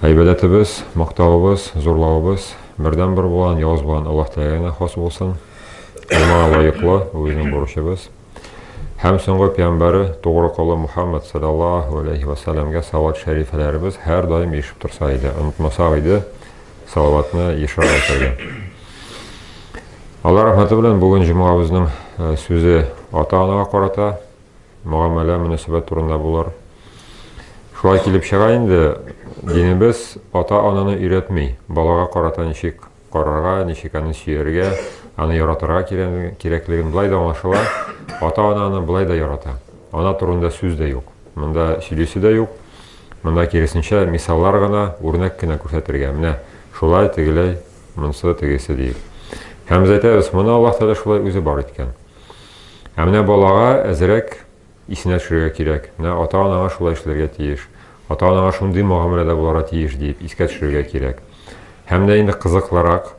Гайбәдәтебез, мактавыбыз, зурлавыбыз бердәнбер булган явыз булган Аллаһ Тәгаләгә генә хас булсын. Аңа лаеклы, бу безнең бурычыбыз. Һәм соңгы пәйгамбәре тугры колы Мухаммад саллаллаһу алейхи ва саллямга салават шәрифләребез һәр даим ишеп торса иде, онытмасак иде салаватны ешрак әйтергә. Алла рәхмәте белән бүген җомгабызның сүзе ата-анага карата, мөгамәлә, мөнәсәбәт турында булыр. Шулай килеп чыга инде, динебез ата-ананы өйрәтми, балага карата ничек карарга, ничек аны сөяргә, аны яратырга кирәклеген болай да аңлашыла, ата-ана аны болай да ярата. Ана турында сүз дә юк. Монда сөйлисе дә юк. Монда киресенчә мисаллар гына, үрнәк кенә күрсәтергә. Менә шулай, тегеләй, монсы, тегесе диеп. Һәм без әйтәбез, моны Аллаһ Тәгалә шулай үзе бар иткән. Ә менә балага әзрәк исенә төшерергә кирәк, менә ата-анаңа шулай эшләргә тиеш, ата-анаңа шундый мөгамәләдә булырга тиеш диеп искә төшерергә кирәк. Һәм дә инде кызыклырак,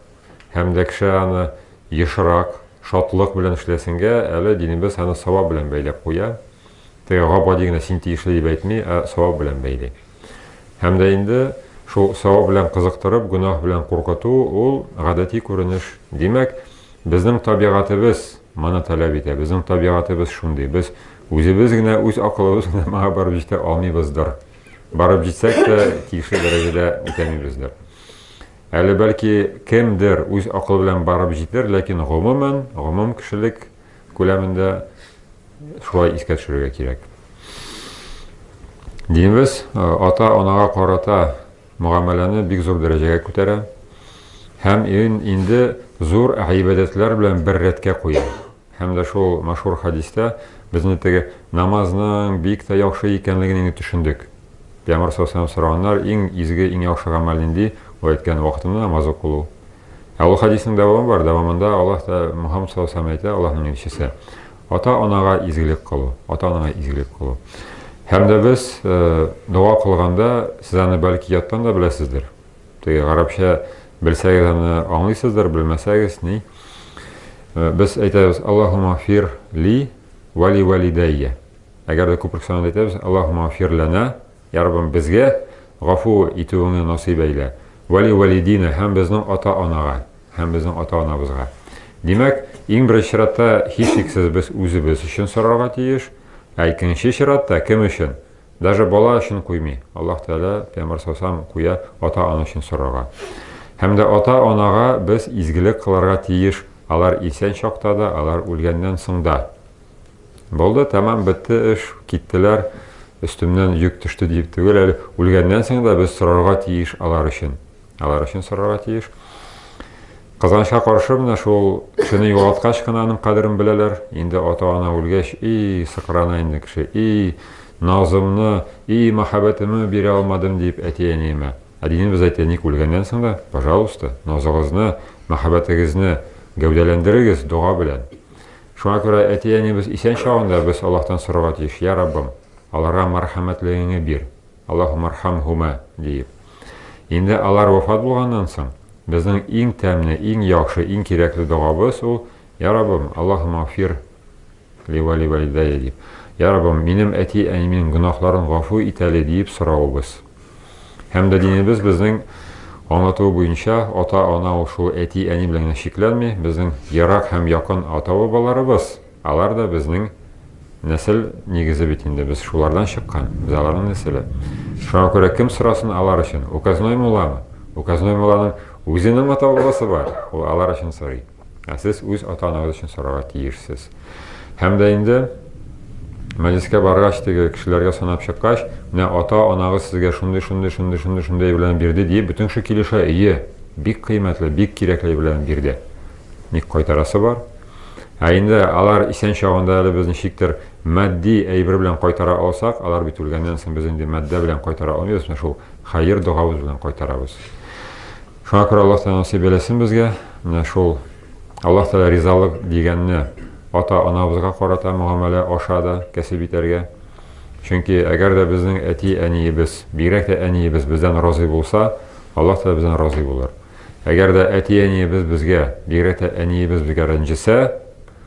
һәм дә кеше аны ешрак, шатлык белән эшләсенгә, әле динебез аны савап белән бәйләп куя. Теге габади генә син тиешле дип әйтми, ә савап белән бәйли. Һәм дә инде шул савап белән кызыктырып, гөнаһ белән куркыту ул гадәти күренеш. Димәк, Безнең табигатебез моны таләп итә, безнең табигатебез шундый, без үзебез генә, үз акылыбыз генә моңа барып җитә алмыйбыздыр. Барып җитсәк тә, тиешле дәрәҗәдә үтәмибездер. Әле бәлки кемдер үз акылы белән барып җитер, ләкин гомумән, гомум кешелек күләмендә шулай искә төшерергә кирәк. Динебез ата-анага карата мөгамәләне бик зур дәрәҗәгә күтәрә һәм ин, инде зур гыйбадәтләр белән бер рәткә куя. Һәм дә шул мәшһүр хәдистә без инде теге намазның бик тә яхшы икәнлеген инде төшендек. Пәйгамбәр саллаллаху сораганнар, иң изге, иң яхшы гамәл нинди? Ул әйткән вакытында намаз укылу. Ә ул хәдиснең дәвамы бар, дәвамында Аллаһ та Мухаммад саллаллаху әйтә, Аллаһның илчесе. Ата-анага изгелек кылу, ата-анаңа изгелек кылу. Һәм дә без э, дога кылганда, сез аны бәлки яттан да беләсездер. Теге гарәпчә белсәгез аны аңлыйсыздыр, белмәсәгез ни. Э, без әйтәбез, Аллахума фир ли вали валидәйя. Әгәр дә күпер санында әйтәбез, Аллахума фир ләнә Йә Раббым, безгә гафу итүеңне насыйп әйлә, вәли вәлидина һәм безнең ата-анага, һәм безнең ата-анабызга. Димәк, иң беренче чиратта, һичшиксез, без үзебез өчен сорарга тиеш, ә икенче чиратта, кем өчен? Даже бала өчен куймый, Аллаһ Тәгалә, пәйгамбәр саллаллаһу куя, ата-ана өчен сорарга. Һәм дә ата-анага без изгелек кылырга тиеш, алар исән чакта да, алар үлгәннән соң да. Булды, тәмам бетте эш, киттеләр, өстемнән йөк төште диеп түгел әле. Үлгәннән соң да без сорарга тиеш алар өчен. Алар өчен сорарга тиеш. Казанча каршы менә шул кешене югалткач кына аның кадерен беләләр. Инде ата-ана үлгәч, и сыкрана инде кеше. И назымны, и мәхәббәтемне бирә алмадым дип әти-әниемә. Ә динебез әйтә, ник үлгәннән соң да, пожалуйста, назыгызны, мәхәббәтегезне гәүдәләндерегез дога белән. Шуңа күрә әти-әнибез исән чагында без Аллаһтан сорарга тиеш, Йә Раббым, аларга мәрхәмәтлегеңне бир, Аллаһумархәмһүмә, диеп. Инде алар вафат булганнан соң, безнең иң тәмле, иң яхшы, иң кирәкле догабыз ул, Йә Раббым, Аллаһумагъфир ли вә ли валидәйя, дип, Йә Раббым, минем әти-әниемнең гөнаһларын гафу ит әле, диеп соравыбыз. Һәм дә динебез безнең аңлатуы буенча ата-ана ул шул әти-әни белән генә чикләнми, безнең ерак һәм якын ата-бабаларыбыз, алар да безнең нәсел нигезе бит инде, без шулардан чыккан, без аларның нәселе. Шуңа күрә кем сорасын алар өчен? Указной мулламы? Указной мулланың үзенең ата-бабасы бар, ул алар өчен сорый. Ә сез үз ата-анагыз өчен сорарга тиешсез. Һәм дә инде мәҗлескә баргач, теге кешеләргә санап чыккач, менә ата-анагыз сезгә шундый, шундый, шундый, шундый, шундый белән бирде диеп, бөтен кеше килешә, ие, бик кыйммәтле, бик кирәкле белән бирде. Ник кайтарасы бар? Ә инде алар исән чагында әле без ничектер матди әйбер белән кайтара алсак, алар бит үлгәннән соң без инде матдә белән кайтара алмыйбыз, менә шул хәер догабыз белән кайтарабыз. Шуңа күрә Аллаһ Тәгалә насыйп әйләсен безгә менә шул Аллаһ Тәгалә ризалык дигәнне ата-анабызга карата мөгамәлә аша да кәсеп итәргә. Чөнки әгәр дә безнең әти-әниебез, бигрәк тә әниебез бездән разый булса, Аллаһ Тәгалә бездән разый булыр. Әгәр дә әти-әниебез безгә, бигрәк тә әниебез безгә рәнҗесә,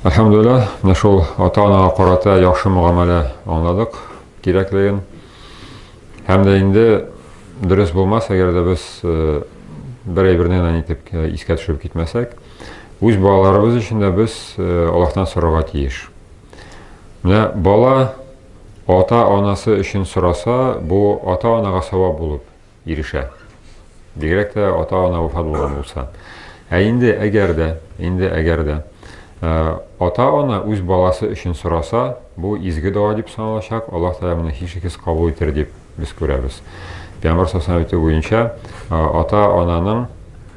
Әлхәмдулилла, менә шул ата-анага карата яхшы мөгамәлә аңладык кирәклеген. Һәм дә инде дөрес булмас, әгәр дә без э, бер әйберне генә итеп э, искә төшереп китмәсәк, үз балаларыбыз өчен дә без э, Аллаһтан сорарга тиеш. Менә бала ата-анасы өчен сораса, бу ата-анага савап булып ирешә. Бигрәк тә ата-ана вафат булган булса. Ә инде әгәр дә, инде әгәр дә ата-ана үз баласы өчен сораса, бу изге дога дип саналачак, Аллаһ Тәгалә моны һичшиксез кабул итер дип без күрәбез. Пәйгамбәр сасана әйтү буенча, ата-ананың,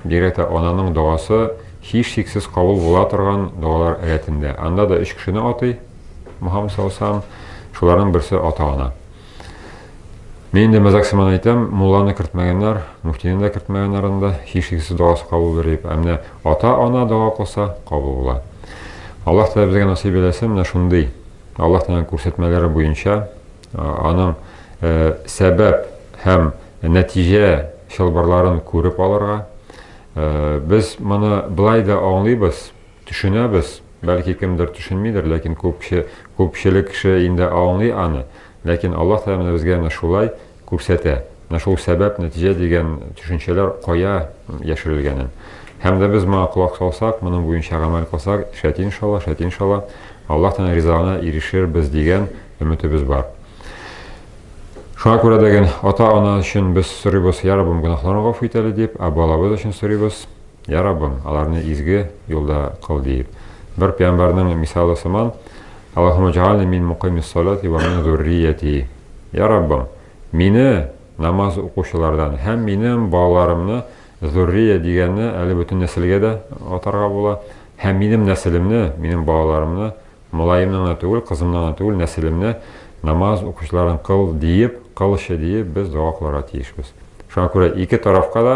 бигрәк тә ананың догасы һичшиксез кабул була торган догалар рәтендә. Анда да өч кешене атый Мухаммад саллаллаху алейһи ва саллям, шуларның берсе ата-ана. Мин инде мәзәк сыман әйтәм, мулланы кертмәгәннәр, муфтины да кертмәгәннәр анда, һичшиксез догасы кабул булыр дип. Ә менә ата-ана дога кылса, кабул була. Аллаһ Тәгалә безгә насыйп әйләсен, менә шундый Аллаһ Тәгаләнең күрсәтмәләре буенча аның э, сәбәп һәм нәтиҗә чылбырларын күреп алырга. Э, без моны былай да аңлыйбыз, Төшенәбез, бәлки кемдер төшенмидер, ләкин күпче күпчелек кеше инде аңлый аны, ләкин Аллаһ Тәгалә менә безгә менә шулай күрсәтә, менә шул сәбәп-нәтиҗә дигән төшенчәләр кая яшерелгәнен. Һәм дә без моңа колак салсак, моның буенча гамәл кылсак, шәт иншалла, шәт иншалла, Аллаһ Тәгаләнең ризалыгына ирешербез дигән өметебез бар. Шуңа күрә дә ген ата-ана өчен без сорыйбыз, Йә Раббым, гөнаһларны гафу ит әле дип, ә балабыз өчен сорыйбыз. Йә Раббым, аларны изге юлда кыл, диеп, бер пәйгамбәрнең мисалы сыман, Аллаһумма җәгальни мин мукыймис салати вә мин зуррияти. Йә Раббым, мине намаз укучылардан һәм минем балаларымны, зуррия дигәнне әле бөтен нәселгә дә атарга була, һәм минем нәселемне, минем балаларымны, малаемны гына түгел, кызымны гына түгел, нәселемне намаз укучылардан кыл, диеп, кылчы, диеп без дога кылырга тиешбез. Шуңа күрә ике тарафка да